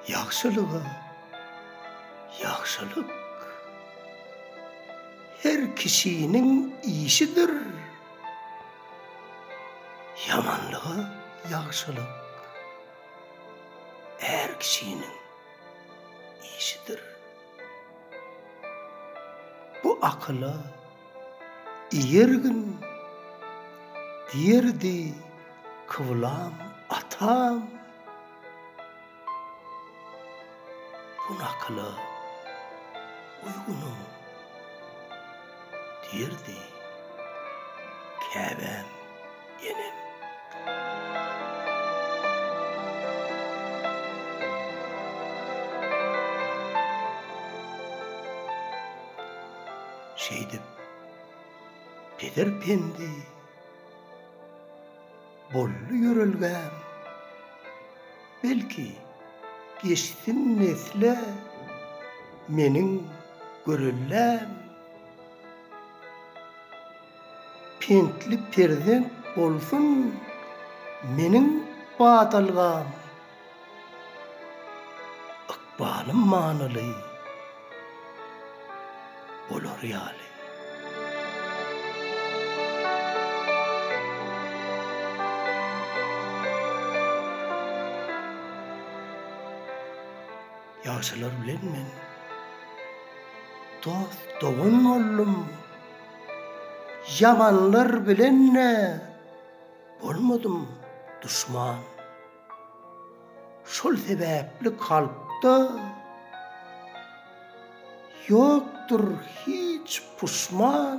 Ýagşylyga ýagşylyk her kişiniň işidir. Ýamanlyga ýagşylyk är kişiniň işidir. Bu akyla ýergin diýerdi kyblam atam. Bu nakyla uýgunyň. diýerdi käbäm enem. Şeýdip, peder Pendi. Boldy ýörelgäm. Belki, geçsin nesle meniň göreldäm. Pentli perzent bolsun meniň badalgam. Ykbalym manyly bolar ýaly. Ýagşylar bilen men dost-dogan boldum, ýamanlar bilen-de bolmadym duşman. Şol sebäpli kalpda ýokdur hiç puşman,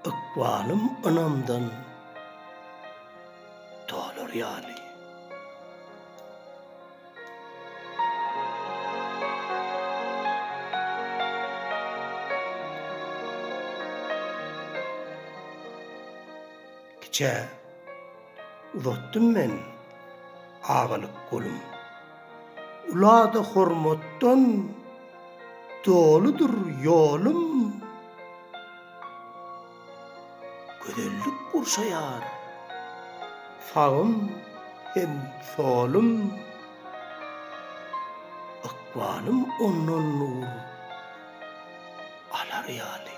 ykbalym ynamdan dolar ýaly. Kiçä uzatdym men agalyk golum. Ula-da hormatdan doludyr ýolum. Gözellik gurşaýar sagym hem solum. Ykbalym ondan nur. alar ýaly.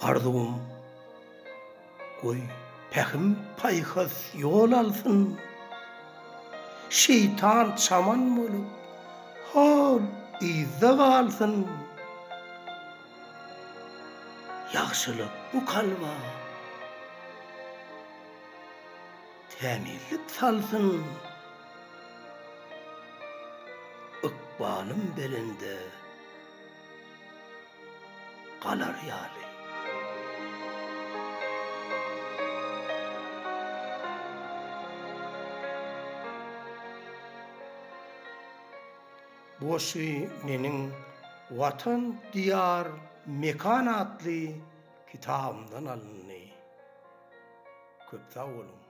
Arzuwym, goý, pähim-paýhas ýol alsyn, Şeýtan çaman bolup, hol yzda galsyn. Ýagşylyk bu kalba tämizlik salsyn, Ykbalym belende galar ýaly. Goşgy meniň Watan Diýar Mekan atly kitabymdan alyndy. Köp sag boluň!